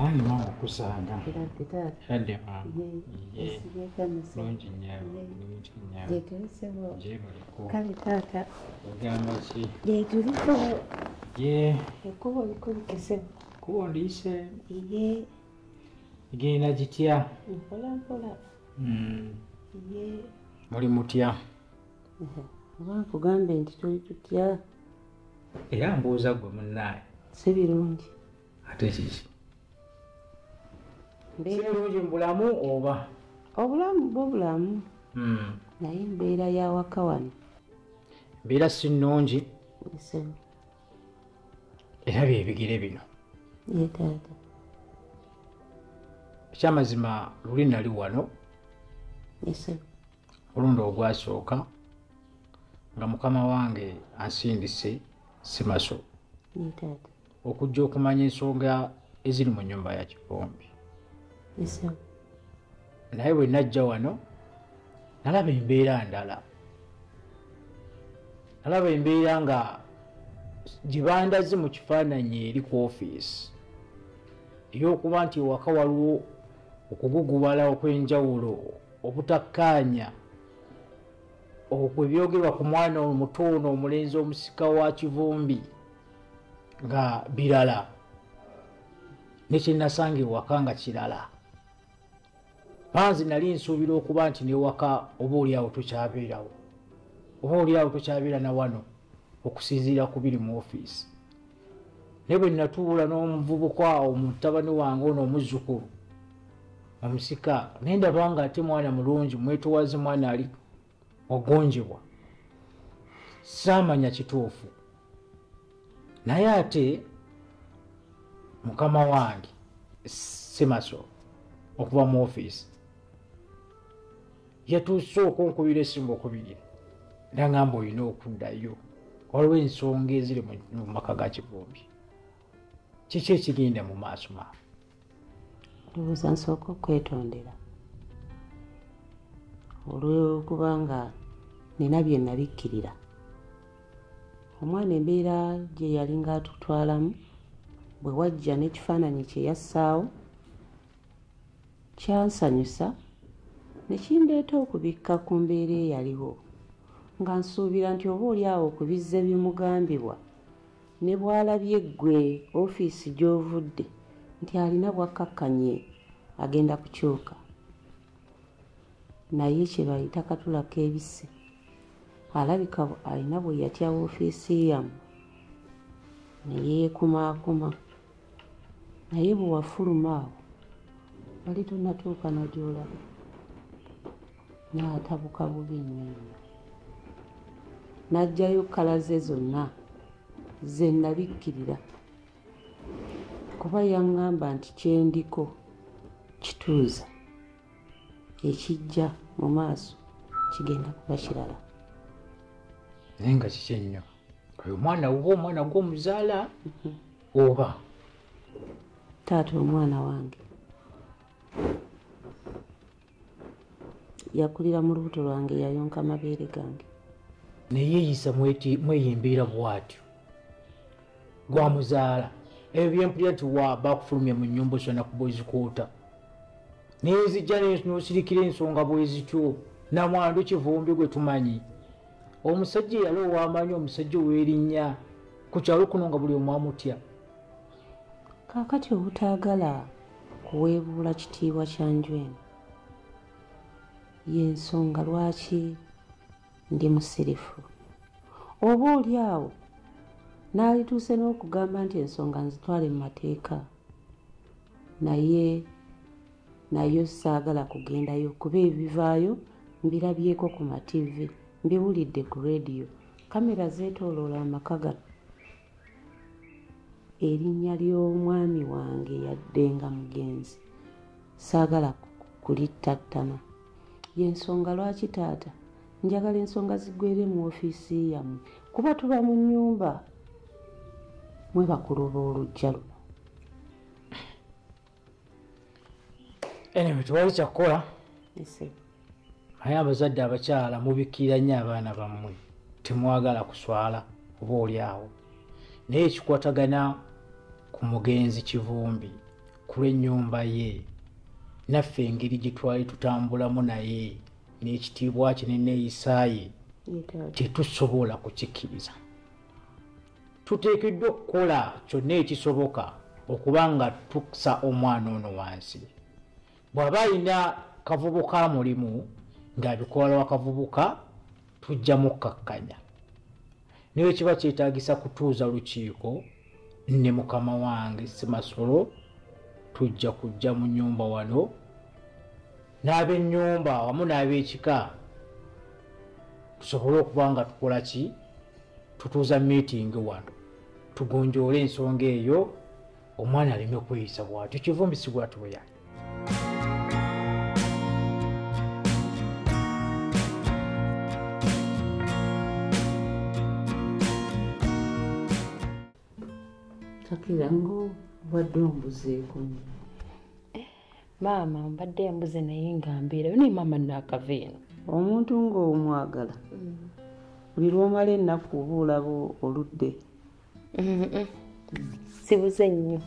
Ayi mama kusanga. Hadi mama. Lungi nyawo. Lungi nyawo. Jetulisebo. Jebuliko. Kali tata. Ogamba ki? Jetulisebo. Ye. Ekubo likulikise. Kubo ndise. Ye. Genda gitya? Mpola mpola. Mm. Ye. Muli mutya? Oba nkugambye nti tuli tutya? era mbuuza gwe munnaye si birungi ate kiki sibirungi mu bulamu oba obulamu bwo bulamu hmm. naye embeera yawaka wano embeera si nnungi era byebigere bino yetaata ekyamazima luli nali wano olundi ogwasooka nga mukama wange ansindise simaso okujja okumanya ensonga eziri mu nyumba ya kivumbi naye bwe najja wano nalaba embeera ndala nalaba embeera nga gye bandaze mu kifaananyi eri ku ofiisi ey'okuba nti ewaka waliwo okuguguwala okw'enjawulo obutakkaanya okwo ebyogerwa ku mwana omuto ono omulenzi omusika wa kivumbi nga birala nekyenasanga ewaka nga kirala panzi nali nsuubira okuba nti newaka oba oliawo tokyabeerawo oba oliawo tokyabeera na wano okusinziira ku biri mu ofiisi naye bwe natuula n'omuvubuka awo mutabani wange ono omuzzukulu omusika naye ndaba nga ate mwana mulungi mwetowaze mwana ali wagonjebwa saamanya kituufu naye ate mukama wange simaso okuva mu ofiisi yatuuse okunkubira esimu okubiri nangamba olina okuddayo waliwo ensonga eziri mu maka ga kivumbi kiki ekigenda mu maaso ma ndowooza nsooka okwetondera olwokuba nga nina bye nabikkirira omwana embeera gye yali ngaatutwalamu bwe wajja n'ekifaananyi kye yassaawo kyansanyusa ne kindeeta okubikka ku mbeera eyaliwo nga nsuubira nti oba oli awo okubizza ebimugambibwa ne bw'alabye ggwe ofiisi gy'ovudde nti alina bwakkakkanye agenda kukyuka naye kye bayita katulako ebise alabika alina bwe yatya ofiisi yamu ne yeekumaakuma naye bwe wafuluma awo wali tonatuuka nagyolaba n'atabuka bubi nnyo n'ajjayo kkala ze zonna ze nabikkirira kuba yaŋŋamba nti kyendiko kituuza ekijja mu maaso kigenda kuba kirala naye nga kiki ennyo oyo omwana wuba omwana gwomuzaala mhm. oba taata omwana wange yakulira mu lubuto lwange yayonka amabeere gange naye yisa mweyimbiira bwatyo gwamuzaala ebyo byempulira nti wa bakufulumya mu nyumba osana kuba ozikuuta naye nzijja nosirikira ensonga bwezityo namwandu kivumbi gwe tumanyi omusajja eyali owamanyi omusajja owerinnya ku kyalo kuno nga buli omwamutya kaakati obutaagala kuweebuula kitiibwa kya nju eno y'ensonga lwaki ndi musirifu oba oli awo n'alituuse n'okugamba nti ensonga nzitwale mu mateeka naye naye saagala kugendayo kuba ebivaayo mbirabyeko ku mativi mbiwulidde ku rediyo kamera zeetooloola amaka gano erinnya ly'omwami wange yadde nga mugenzi saagala kulittattana yensonga lwaki taata njagala ensonga zigwere mu ofiisi yammwe kuba tuba mu nnyumba mwe bakulu b'olujja luno anyway tewali kyakukola naye abazadde abakyala mubikkira nnyo abaana bammwe temwagala kuswala oba oli awo naye ekikwatagana ku mugenzi kivumbi ku lw'ennyumba ye naffe engeri gye twali tutambulamu naye n'ekitiibwa kye neneeyisaaye tetusobola kukikkiriza tuteekeddwa okukola kyonna ekisoboka okuba nga tukusa omwana ono wansi bw'aba alina kavubuka mulimu ng'abikola wakavubuka tujja mukkakkanya naye kiba kyetaagisa kutuuza lukiiko ne mukama wange simasolo tujja kujja mu nyumba wano n'abennyumba wamu n'abekika tusobole okuba nga tukola ki tutuuza miitingi wano tugonjoole ensonga eyo omwana aleme kweyisa bwatyo kivumbisi bwati bwe yali kakira ngo wadde ombuzeekomu maama mbadde embuze naye nga mbeerayo naye maama naakava eno omuntu ng'omwagala mm. buli lwomala ennaku oba olaba oludde sibuze nnyo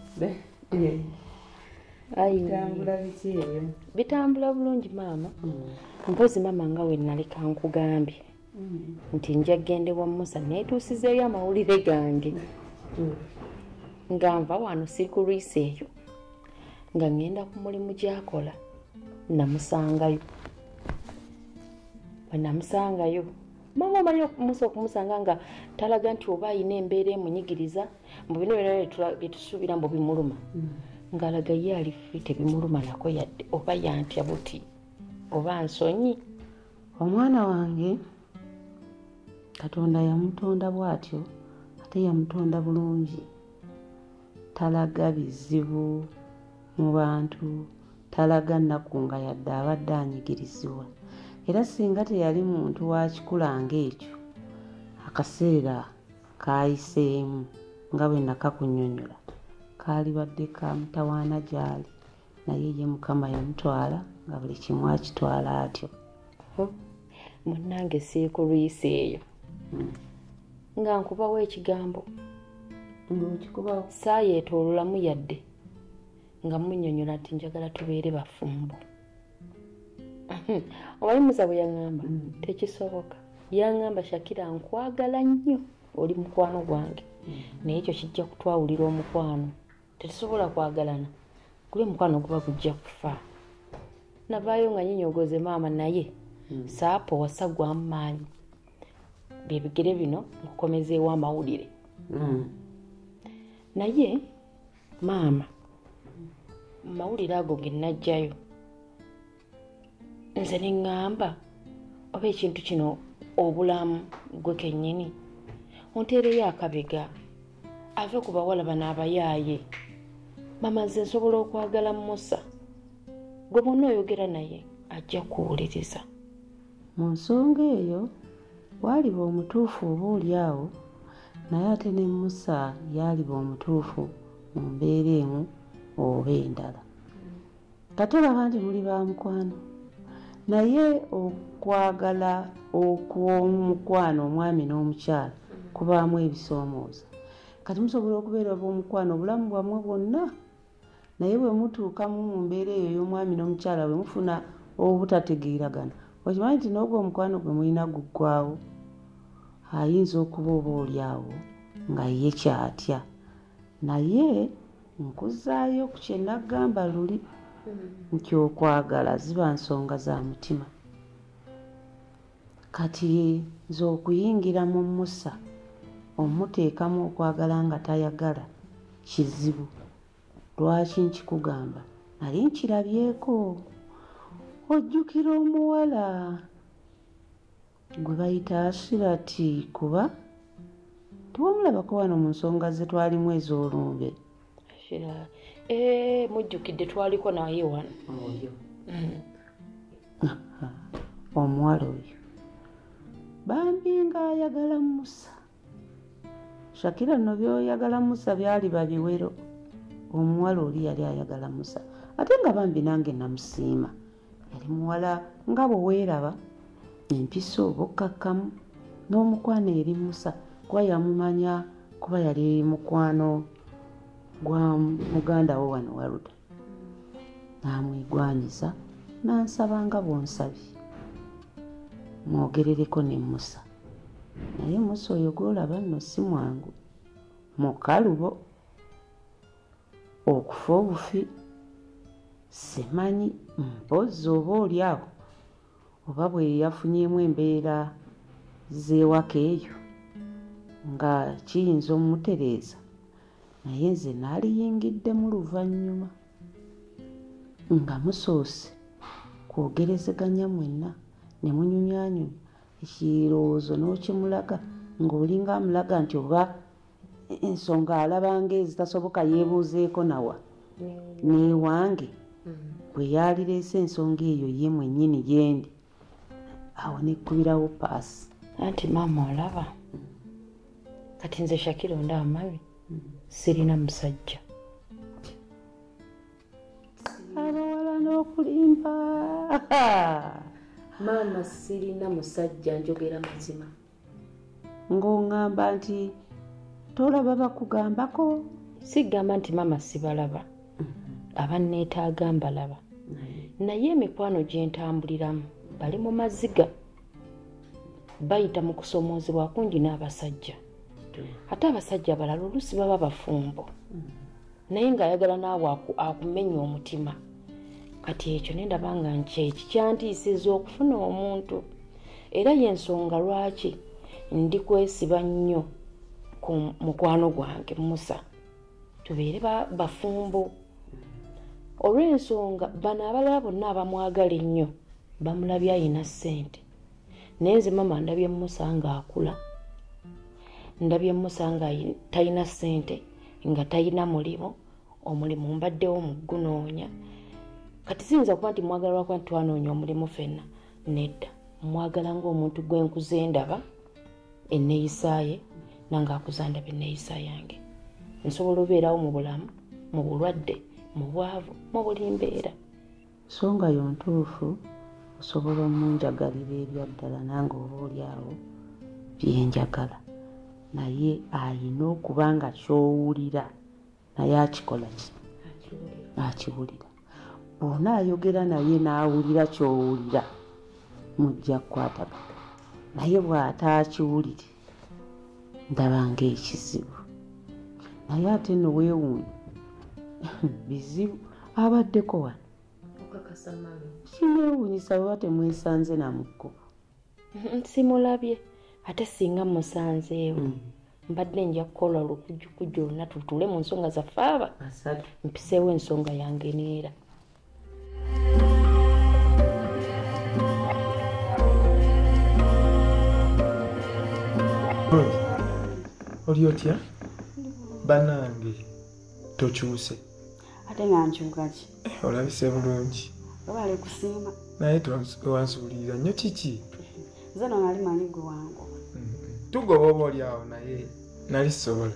bitambula bulungi maama mm. mpozi maama nga wenaleka nkugambye nti nja kugenda ewa musa neetuusizeeyo amawulire gange nga nva wano siri ku lwisi eyo nga ŋŋenda ku mulimu gyakola namusangayo bwe namusangayo maama omanyi musa okumusanga nga talaga nti oba alina embeera emunyigiriza mbu bino byona byetusuubira mbu bimuluma mm. ng'alaga ye ali fi tebimuluma nako yadde oba yantya buti oba nsonyi omwana wange katonda yamutonda bwatyo ate yamutonda bulungi talaga bizibu mu bantu talaga nnaku nga yadde abadde anyigirizibwa era singa teyali muntu wakikula ngaekyo akaseera kayiseemu nga bwe nakakunyonyola kaalibadde ka mutawaana gyali naye ye mukama yamutwala nga buli kimu akitwala atyo munnange siikulwisa eyo hmm. nga nkubawo ekigambo saayetoololamu yadde nga munyonyola nti njagala tubeere bafumbo owayimuza bwe yaŋamba hmm. tekisoboka yaŋamba shakira nkwagala nnyo oli mukwano gwange hmm. naye ekyo kijja kutwawulira omukwano tetusobola kwagalana guli omukwano guba gujja kufa navaayo nga nyinyogoze maama naye hmm. saapo wasagwamu maanyi byebigere bino nkukomezeewo amawulire hmm. naye maama mawulire ago genajjayo nze ne ŋŋamba oba ekintu kino obulamu gwe kennyini onteereyo akabega ave ku bawala bano abayaaye mama nze nsobola okwagala musa gwe bonna oyogera naye ajja kuwuliriza mu nsonga eyo waaliba omutuufu oba oli awo naye ate ne musa yaaliba omutuufu mu mbeera emu oba endala katola bangi muli ba mukwano naye okwagala okw'omukwano omwami n'omukyala kubaamu ebisoomooza kati musobola okubeera b'omukwano obulamu bwammwe bwonna naye bwe mutuukamu mu mbeera eyo y'omwami n'omukyala bwe mufuna obutategeeragana okimanyi nti n'ogwo omukwano gwe mulina guggwawo ayinza okuba oba oli awo nga ye kyatya naye nkuzzaayo ku kye naggamba luli nti okwagala ziba nsonga za mutima kati nze okuyingira mu musa omuteekamu okwagala nga tayagala kizibu lwaki nkikugamba nali nkirabyeko ojjukira omuwala gwe bayita ashirati kuba tewamulabako wano mu nsonga ze twalimu ez'olumbe ashira eh, mujjukidde twaliko naye wano mm. omuwala oyo bambi nga ayagala musa shakira no byoyagala musa byali babiwero omuwala oli yali ayagala musa ate nga bambi nange namusiima yali muwala nga bweweeraba empiso obukkakkamu n'omukwano eri musa kuba yamumanya kuba yali mukwano gwa muganda wo wano waruda n'amwegwanyiza n'ansaba nga bw'onsabye mwogerereko ne musa naye musa oyo gw'olaba nno si mwangu mukalubo okufa obufi simanyi mpozzi oba oli awo oba bwe yafunyemu embeera z'ewaka eyo nga kiyinza omutereeza naye nze naaliyingiddemu luvannyuma nga musoose kwogerezeganya mwenna ne munyumyanyumya ekirowoozo n'okimulaga ng'olinga amulaga nti oba ensonga alabanga ezitasoboka yeebuuzeeko nawa neewange mm. bwe yaalireese ensonga eyo ye mwennyini gyendi awo nekkubirawo paasi anti maama olaba kati nze shakira onda amari mm. sirina musajja abawala n'okulimba maama sirina musajja njogera mazima ng'oŋŋamba nti tolaba bakugambako sigamba nti maama sibalaba mm-hmm. abanneetaaga mbalaba mm-hmm. naye emikwano gye ntambuliramu bali mu maziga bayita mu kusoomoozebwa kungi n'abasajja mm-hmm. ate abasajja abalala oluusi baba bafumbo naye ng'ayagala naawe akumenya omutima kati ekyo nendaba nga nkyeki kyantiisiza okufuna omuntu era yensonga lwaki ndi kwesiba nnyo ku mukwano gwange musa tubeere bafumbo olw'ensonga bano abalala bonna abamwagala ennyo bamulabye ayina ssente naye nze mama ndabye musa nga akula ndabye musa nga talina sente nga talina mulimu omulimu mbaddewo mugunoonya kati siyinza kuba nti mwagala lwakuba nti twanoonya omulimu fenna nedda mwagala ngaomuntu gwenkuza endaba enneyisaye nange akuza ndaba enneyisa yange nsobola obeerawo mu bulamu mu bulwadde mu bwavu mu buli mbeera Songa yo ntuufu osobola omunjagalira ebyaddala nange oba oli awo byenjagala naye ayina okuba nga kyowulira naye akikola ki akiwulira bwona ayogera naye n'awulira kyowulira mujja kukwatagana naye bw'ataakiwulire ndaba ng'ekizibu naye ate no weewuunya bizibu abaddeko wano kineewuunyisa bweba temwesanze namukko simulabye ate singa musanzeewo mm. mbadde nja kukola olukujjukujju olunatu tuule mu nsonga zaffe aba mpiseewo ensonga yange neera oli otya banange tokyuse ate nga nkyukaki eh, olabise bulungi obale kusiima naye wansuulirira nnyo kiki nze no nali manyi gwe wangu mm-hmm. tugoba oba oli awo naye nali sobola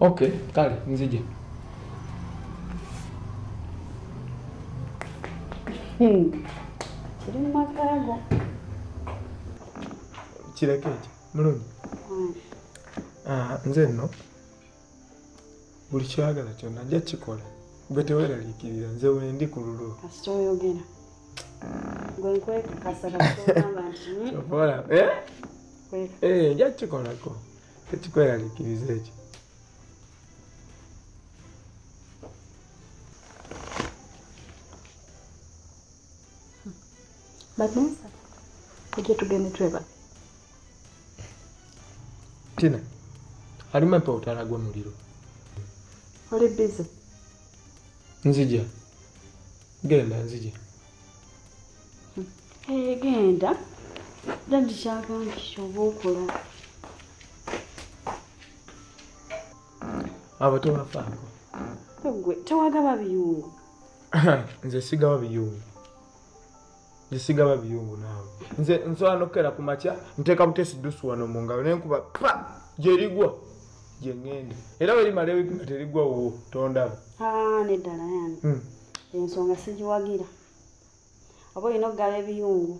okay kale nzije hmm. kiri mu makaago kireke ekyo mulungi hmm. ah, nze nno buli kyagala kyonna nja kikola gwe teweraliikirira nze wendi ku lulwo kasita oyogera gwe nkwekakasa kasita ogamba nti hmm? eh? eh, nja kikolako tekikweraliikiriza ekyo bagenza ojja tugende tweba tina alimu empa otala gwe muliro oli bize nzija genda nzija egenda dadi kyagambye kyoba okola abo tebafaako gwe tewagaba biyungu nze sigaba biyungu nze sigaba biyungu naawe nze nsobola nokukera ku makya nteeka butesi dusu wano mu ngalo naye nkuba pa gyerigwa gye ŋŋenda era werimala ebiguma terigwa wuwo tondaba ah, neddala yani hmm. ensonga sigiwagira oba olina okugaba ebiyungu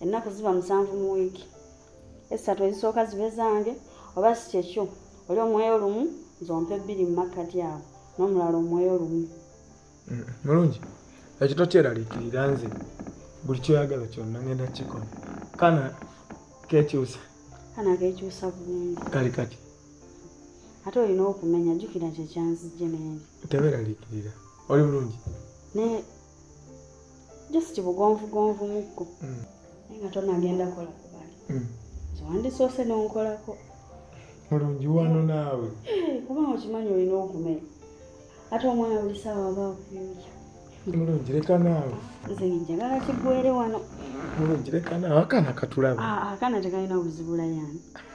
ennaku ziba musanvu mu wiiki essatu ezisooka zibe zange oba si kyekyo oli omwoyo lumu nzompa ebbiri mu makkati awo n'omulala omwoyo lumu mm, mulungi ekyo tokyeraliikirira nze buli kyoyagala kyonna ngenda kikola kana kekyusa kana kekyusa bulungi kali kati ate olina okumenya jjukira kyekyanzijje nengi teberaliikirira oli bulungi naye just bugonvugonvu mukko mm. naye nga tonagenda kola kubali mm. wandisoose nonkolako mulungi wano naawe eh, kubanga okimanyi olina okumenya ate omwana buli saawa aba akuyoja mulungi leka naawe nze njagala kigwere wano mulungi leka naawe akaana katulaba ah, akaana tekalina buzibula yani